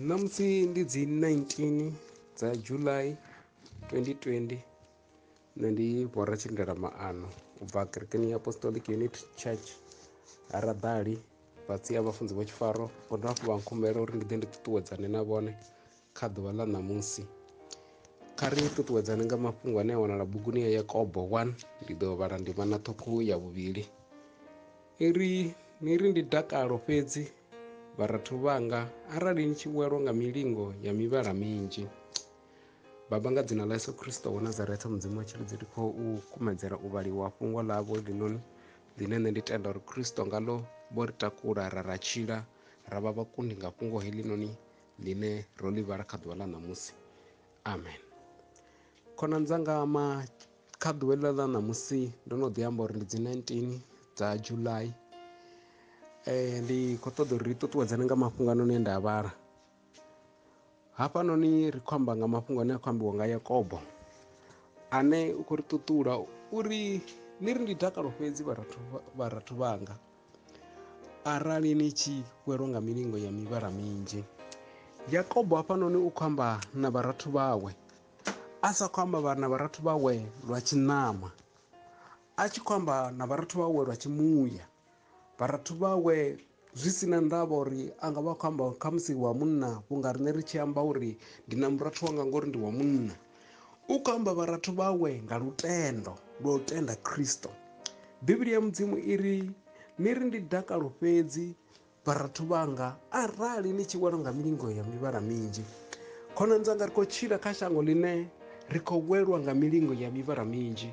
ṋamusi ndi dzi 19 dza july 2020 nṋe ndi bora tshindela maano u bva kerekeni ya apostolic unit church ha raḓali fhatsi ha vhafunzi vha tshifaro vho dovha hafhu vha nkhumbela uri ndi ḓe ndi ṱuṱuwedzane na vhone Kha ḓuvha ḽa ṋamusi, kha ri ṱuṱuwedzane nga mafhungo ane a wanala buguni ya Yakobo 1. Ndi ḓo vhala ndimana ṱhukhu ya vhuvhili i ri, Ni ri ndi dakalo fhedzi, vharathu vhanga, arali ni tshi welwa nga milingo ya mivhala minzhi. Baba, nga dzina ḽa Yesu Kristo wa Nazaretha, Mudzimu wa tshilidzi, ndi khou u kumedzela u vhaliwa fhungo ḽavho heḽinoni ḽine nṋe ndi tenda uri Kristo ngaḽo vho ri takula ra ra tshila ra vha vhakundi nga fhungo heḽinoni ḽine ro ḽi vhala kha ḓuvha ḽa ṋamusi amen khonani dzanga ma kha ḓuvha ḽa ḽa ṋamusi ndo no ḓi amba uri ndi dzi 19 dza july eh, ndi khou ṱoḓa uri ri ṱuṱuwedzane nga mafhungo anoni e nda a vhala hafhanoni ri khou amba nga mafhungo ane a khou ambiwa nga yakobo ane u khou ri ṱuṱula uri ni ri ndi dakalo fhedzi vharathu vharathu vhanga arali ni tshi welwa nga milingo ya mivhala minzhi yakobo hafhanoni u khou amba na vharathu vhawe a sa khou amba na vharathu vhawe lwa tshiṋama a tshi khou amba na vharathu vhawe lwa tshimuya vharathu vhawe zwi si na ndavha uri a nga vha khou amba khamusi wa munna vhunga riṋe ri tshi amba uri ndi na murathu wanga ngori ndi wa munna u khou amba vharathu vhawe nga lutendo lwa u tenda Kristo. Bivhili ya Mudzimu i ri, Ni ri ndi dakalo fhedzi, vharathu vhanga, arali ni tshi welwa nga milingo ya mivhala minzhi. Khonani dzanga, ri khou tshila kha shango ḽine ri khou welwa nga milingo ya mivhala minzhi.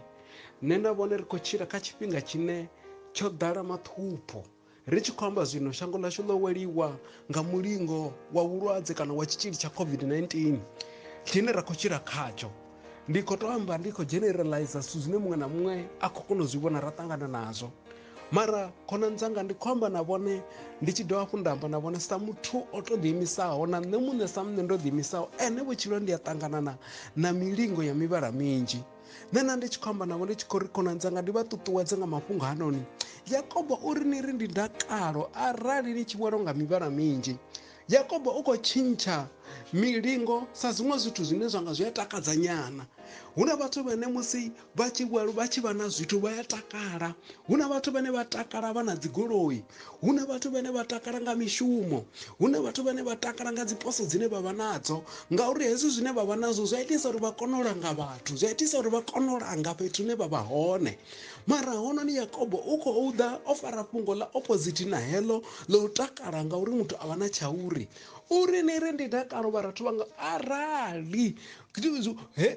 Nṋe na vhone ri khou tshila kha tshifhinga tshine tsho ḓala maṱhupho. Ri tshi khou amba zwino, shango ḽashu ḽo weliwa nga mulingo wa vhulwadze kana wa tshitzhili tsha COVID-19 tshine ra khou tshila khatsho. Ndi khou tou amba ndi khou generalizer zwithu zwine muṅwe na muṅwe a khou kona u zwi vhona ra ṱangana nazwo. Mara khonani dzanga ndi khou amba na vhone ndi tshi dovha hafhu nda amba na vhone sa muthu o tou ḓiimisaho na nṋe muṋe sa muṋe ndo ḓiimisaho ene vhutshilo ndi a ṱanganana na milingo ya mivhala minzhi. nṋe na ndi tshi khou amba navho ndi tshi khou ri khonani dzanga ndi vha ṱuṱuwedze nga mafhungo hanoni yakobo o ri ni ri ndi dakalo arali ni tshi vhwelo nga mivhala minzhi yakobo u khou tshintsha milingo sa zwiṅwe zwithu zwine zwa nga zwi a takadza nyana hu na vhathu vhane musi vha tshi vha tshi vha na zwithu vha ya takala hu na vhathu vhane vha takala vha na dzigoloi hu na vhathu vhane vha takala nga mishumo hu na vhathu vhane vha takala nga dziposo dzine vha vha nadzo ngauri hezwi zwine vha vha nazwo zwi a itisa uri vha kone u langa vhathu zwi a itisa uri vha kone u langa fhethu hune vha vha hone mara hononi yakobo u khou ḓa o fara fhungo ḽa opposite na heḽo ḽa u takala ngauri muthu a vha na tshauri uri ni ri ndi dakalo vharathu vhanga arali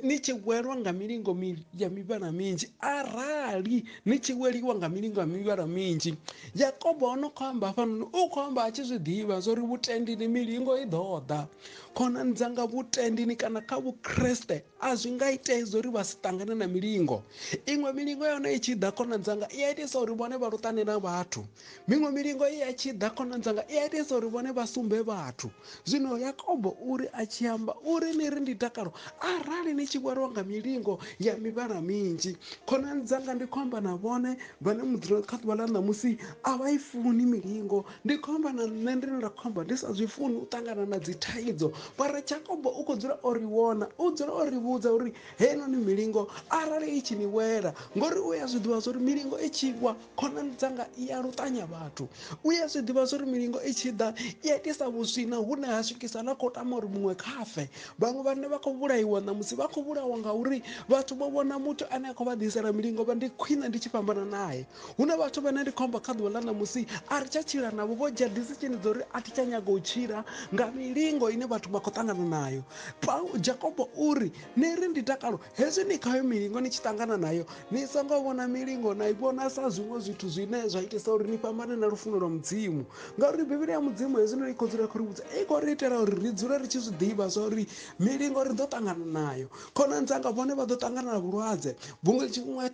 ni tshi welwa nga milingo ya mivhala minzhi arali ni tshi weliwa nga milingo ya mivhala minzhi yakobo o no khou amba hafhanoni u khou amba a tshi zwi ḓivha zwa uri vhutendini milingo i ḓo ḓa khonani dzanga vhutendini kana kha vhukreste a zwi nga itei zwa uri vha si ṱangane na milingo iṅwe milingo ya hone i tshi ḓa khonani dzanga i a itisa uri vhone vha luṱane na vhathu miṅwe milingo i a tshi ḓa khonani dzanga i a itesa uri vhone vha sumbe vhathu zwino yakobo uri a tshi amba uri ni ri ndi dakalo arali ni tshi vhariwa nga milingo ya mivhala minzhi khonani dzanga ndi khou amba na vhone vhane mudzula kha ḓuvha ḽa ṋamusi a vha i funi milingo ndi khou amba na nṋe ndine nda khou amba ndi sa zwi funi u ṱangana na dzi thaidzo mara jakobo u khou dzula o ri vhona u dzula o ri vhudza uri heinoni milingo arali i tshi ni wela ngori u ya zwi ḓivha zwa uri milingo i tshi wa khonani dzanga i ya luṱanya vhathu u ya zwi ḓivha zwori milingo i tshi ḓa i a itisa vhuswina hune ha swikisa na khou tama uri muṅwe khafe vhaṅwe vhane vha khou vhulaiwa ṋamusi vha khou vhulawa ngauri vhathu vho vhona muthu ane a khou vha ḓisela milingo vha ndi khwine ndi tshi fhambana naye hu na vhathu vhane ndi khombo kha ḓuvha ḽa ṋamusi a ri tsha tshila navho vho dzhia disitshini dzo uri a thi tsha nyaga u tshila nga milingo ine vhathu vha khou ṱangana nayo jakobo uri ni ri ndi takalo Hezwi ni khayo milingo ni tshi ṱangana nayo, ni songo vhona milingo na i vhona sa zwiṅwe zwithu zwine zwa itisa uri ni fhambane na lufuno lwa Mudzimu. Ngauri Bivhili ya Mudzimu hezwino i khou dzula khou ri vhudza, i khou ri itela uri ri dzule ri tshi zwi ḓivha zwa uri milingo ri ḓo ṱangana nayo. Khonani dzanga vhone vha ḓo ṱangana na vhulwadze, vhuṅwe tshiṅwe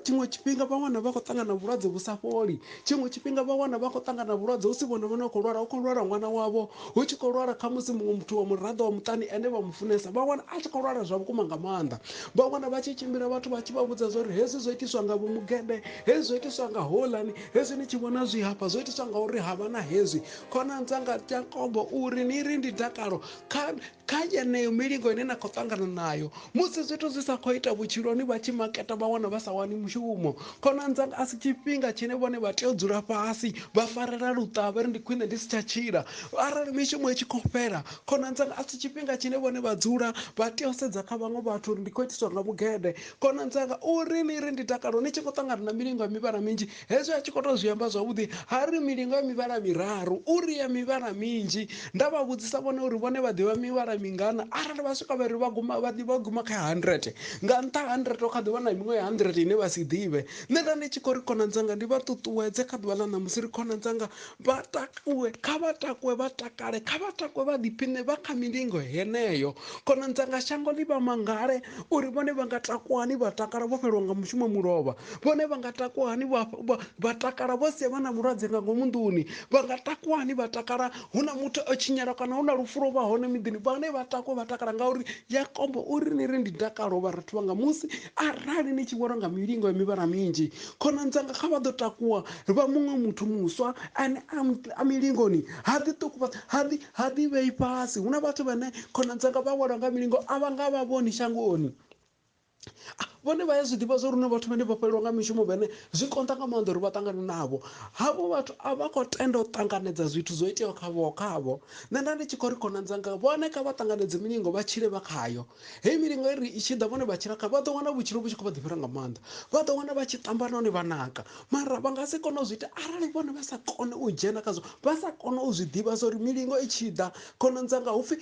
tshiṅwe tshifhinga vhaṅwe vha khou ṱangana na vhulwadze vhu sa fholi. Tshiṅwe tshifhinga vha wana vha khou ṱangana na vhulwadze hu si vhone vhone vha khou lwala, hu khou lwala ṅwana wavho, hu tshi khou lwala khamusi muṅwe muthu wa muraḓo wa muṱani ane vha mu funesa, vha wana a tshi khou lwala zwa vhukuma nga maanḓa. Vha wana vha tshi tshimbila vhathu vha tshi vha vhudza zwa uri hezwi zwo itiswa nga vho mugede, hezwi zwo itiswa nga houḽani, hezwi ni tshi vhona zwi hafha zwo itiswa nga uri ha vha na hezwi. Khonani dzanga Jakobo u ri, Ni ri ndi dakalo kha kha yeneyo milingo ine na khou ṱangana nayo musi zwithu zwi sa khou ita vhutshiloni vha tshi maketa vha wana vha sa wani mushumo khonani dzanga a si tshifhinga tshine vhone vha tea u dzula fhasi vha farela luṱavha ri ndi khwine ndi si tsha tshila arali mishumo i tshi khou fhela khonani dzanga a si tshifhinga tshine vhone vha dzula vha tea u sedza kha vhaṅwe vhathu uri ndi khou itiswa nga vhugede khonani dzanga uri ni ri ndi dakalo ni tshi khou ṱangana na milingo ya mivhala minzhi Hezwi a tshi khou tou zwi amba zwavhuḓi, a ri, Milinga mivhala miraru, uri ya mivhala minzhi. Nda vha vhudzisa vhone uri vhone vha ḓivha mivhala mingana, arali vha swika vha ri vha guma, vha ḓi vha guma kha ya handirete. Nga nṱha ha handirete hu kha ḓi vha na miṅwe ya handirete ine vha si ḓivhe. Nṋe nda ndi tshi khou ri, Khonani dzanga, ndi vha ṱuṱuwedze kha ḓuvha ḽa ṋamusi, ri khonani dzanga Vha takuwe, kha vha takuwe vha takale, kha vha takuwe vha ḓiphiṋe vha kha milingo heneyo. Khonani dzanga, shango ḽi vha mangale uri vhone vha nga takuwa hani vha takala vho fhelelwa nga mushumo mulovha. Vhone vha nga takuwa hani vha, vha, vha takala vho sia vha na mulwadze nga ngomu nḓuni. Vha nga takuwa hani vha takala hu na muthu o tshinyala kana hu na lufu lwo vha hone miḓini. Vhone vha takuwe vha takala ngauri Yakobo uri ni ri ndi dakalo vharathu vhanga musi arali ni tshi vhona nga milingo ya mivhala minzhi. Khonani dzanga, kha vha ḓo takuwa vha muṅwe muthu muswa ane a milingoni ha ḓi ṱukuba ha ḓi ha ḓi vhei fhasi hu na vhathu vhane khona dzanga vha welwa nga milingo a vha nga vha vhoni shangoni vhone vha ya zwi ḓivha zwa uri na vhathu vhane vha fhelelwa nga mishumo vhene zwi konḓa nga maanḓa uri vha ṱangane navho havho vhathu a vha khou tenda u ṱanganedza zwithu zwo iteaho khavho khavho nṋe nda ndi tshi khou ri khonani dzanga vhone kha vha ṱanganedze milingo vha tshile vha khayo Heyi milinga i ri i tshi ḓa vhone vha tshilakha vha ḓo wana vhutshilo vhu tshi khou vha ḓifhela nga maanḓa. Vha ḓo wana vha tshi ṱamba nahone vha naka. Mara vha nga si kone u zwi ita arali vhone vha sa kone u dzhena khazwo, vha sa kone u zwi ḓivha zwa uri milingo i tshi ḓa khonani dzanga hu pfi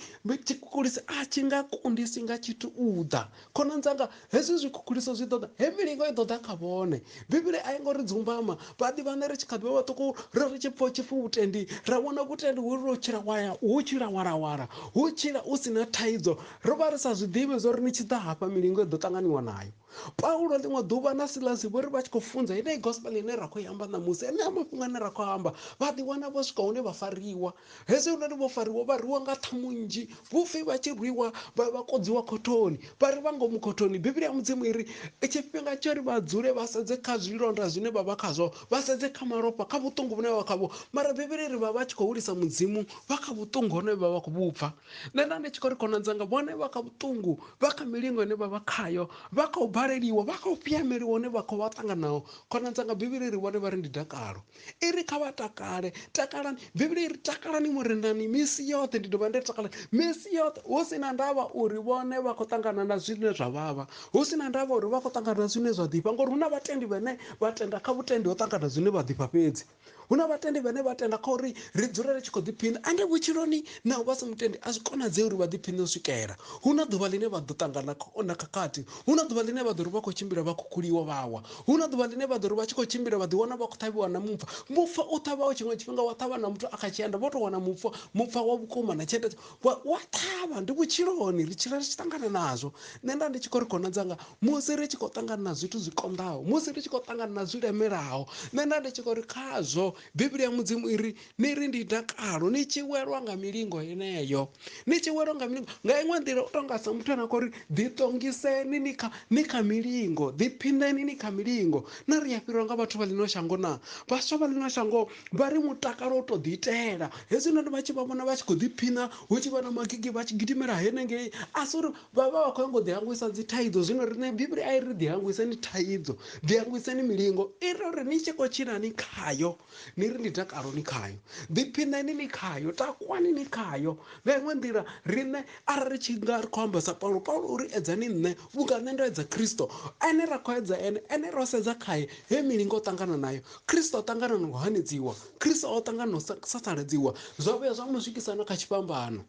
tshikhukhulisi a tshi nga kundisi nga tshithu u ḓa. Khonani dzanga hezwi zwikhukhulisi zwi ḓo ḓa, heyi milingo i ḓo ḓa kha vhone. Bivhili a i ngo ri dzumbama. Vhaḓi vhaṋe ri tshi kha ḓi vha vhaṱuku ro ri tshi pfa hu tshi pfi vhutendi, ra vhona vhutendi hu ri u tshila wa ya, hu tshila wa lawala, hu tshila u si na thaidzo. Ro vha ri sa zwi ḓivhi zwa uri ni tshi ḓa hafha milingo i ḓo ṱanganiwa nayo. Paulo ḽiṅwe ḓuvha na Silasi vho ri vha tshi khou funza yeneyi gospel ine ra khou i amba ṋamusi, enea mafhungo ane ra khou a amba, vha ḓiwana vho swika hune vha fariwa. Hezwiononi vho fariwa vha rwiwa nga ṱhamu nnzhi, vhupfi vha tshi rwiwa vha vha kodziwa khothoni, vha ri vha ngomu khothoni. Bivhili ya Mudzimu i ri, Tshifhinga tsho ri vha dzule vha sedze kha zwilonda zwine vha vha khazwo, vha sedze kha malofha, kha vhuṱungu vhune vha vha khavho. Mara Bivhili i ri vha vha tshi khou hulisa Mudzimu vha kha vhuṱungu honohe vha vha khou vhu pfa. Nṋe nda ndi tshi khou ri khonani dzanga vhone vha kha vhuṱungu, vha kha milingo ine vha vha khayo, vha kha u baleliwa, vha kha u piameliwa hune vha khou vha ṱanganaho. Khonani dzanga Bivhili i ri vhone vha ri ndi dakalo. i ri kha vha takale takalani bivhili i ri takalani murenani misi yoṱhe ndi dovha nda ri takalani misi yoṱhe hu si na ndavha uri vhone vha khou ṱangana na zwine zwa vhavha hu si na ndavha uri vha khou ṱangana na zwine zwa ḓifha ngori hu na vhatendi vhane vha tenda kha vhutendi ho ṱangana zwine vha ḓifha fhedzi hu na vhatendi vhane vha tenda kha uri ri dzule ri tshi khou ḓiphina ande vhutshiloni naho vha si mutendi a zwi konadzei uri vha ḓiphine u swikela hu na ḓuvha ḽine vha ḓo ṱangana na khakhathi hu na ḓuvha ḽine vha ḓo ri vha khou tshimbila vha khukhuliwa vhawa Hu na ḓuvha ḽine vha ḓo ri vha tshi khou tshimbila vha ḓiwana vha khou ṱhavhiwa na mupfa. Mupfa u ṱhavhaho tshiṅwe tshifhinga wa ṱhavha na muthu a kha tshienda vho tou wana mupfa, mupfa wa vhukuma na tshienda wa wa ṱhavha. Ndi vhutshiloni ri tshila ri tshi ṱangana nazwo. Nṋe nda ndi tshi khou ri khonani dzanga musi ri tshi khou ṱangana na zwithu zwi konḓaho, musi ri tshi khou ṱangana na zwi lemelaho, nṋe nda ndi tshi khou ri khazwo Bivhili ya Mudzimu i ri ni ri ndi dakalo ni tshi welwa nga milingo yeneyo ni tshi welwa nga milingo nga iṅwe nḓila u tonga sa muthu ane a khou ri ḓiṱongiseni ni kha ni kha milingo ḓiphinḓeni ni kha milingo na ri a fhirwa nga vhathu vha ḽino shango na vhaswa vha ḽino shango vha ri mutakalo u tou ḓiitela hezwi noni vha tshi vha vhona vha tshi khou ḓiphiṋa hu tshi vha na magigi vha tshi gidimela henengei a si uri vha vha vha khou yango ḓihangwisa dzi thaidzo zwino riṋe bivhili a i ri ḓihangwiseni thaidzo ḓihangwiseni milingo i ri uri ni tshi khou tshila ni khayo ni ri ndi dakalo ni khayo ḓiphinani ni khayo takwani ni khayo nga iṅwe nḓila riṋe arali ri tshi nga ri khou amba sa paulo paulo uri edzani nṋe vhunga nṋe ndo edza khristo ene ra khou edza ene ene ro sedza khaye he milingo ṱangana nayo khristo o ṱangana na u hanedziwa khristo o ṱangana na u sasaledziwa zwa vhuya zwa mu swikisa na kha tshifhambano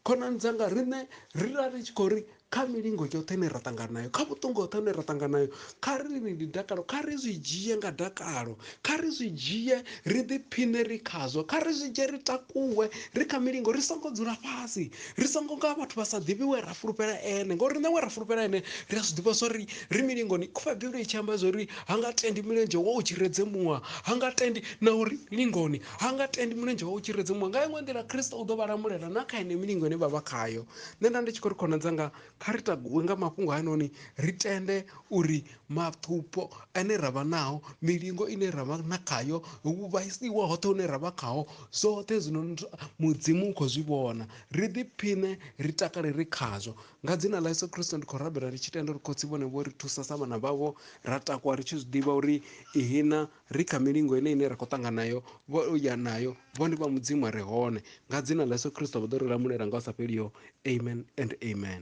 khonani dzanga riṋe ri ra ri tshi khou ri kha milingo yoṱhe ine ra ṱangana nayo kha vhuṱungu hoṱhe hune ra ṱangana nayo kha ri ni ndi dakalo kha ri zwi dzhie nga dakalo kha ri zwi dzhie ri ḓiphiṋe ri khazwo kha ri zwi dzhie ri takuwe ri kha milingo ri songo dzula fhasi ri songo nga vhathu vha sa ḓivhi we ra fulufhela ene ngauri nṋe we ra fulufhela ene ri a zwi ḓivha zwa ri ri milingoni khuvha bivhili i tshi amba zwa uri ha nga tendi milenzhe wa u tshiredze muṅwe ha nga tendi na uri milingoni ha nga tendi milenzhe wa u tshiredze muṅwe nga iṅwe nḓila khristo u ḓo vha lamulela na kha ene milingo ine vha vha khayo nṋe nda ndi tshi khou ri khonani dzanga kha ri takuwe nga mafhungo hayanoni ri tende uri maṱhupho ane ra vha nao milingo ine ra vha na khayo u vhaisiwa hoṱhe hune ra vha khaho zwoṱhe zwino mudzimu u khou zwi vhona ri ḓiphiṋe ri takale ri khazwo nga dzina ḽa yesu kristo ndi khou rabela ndi tshi tenda uri khotsi vhone vho ri thusa sa vhana vhavho ra takuwa ri tshi zwi ḓivha uri ihina ri kha milingo ine ine ra khou ṱangana nayo vho ya nayo vho ndi vha mudzimu a re hone nga dzina ḽa yesu kristo vha ḓo ri lamulela nga u sa fheliho amen and amen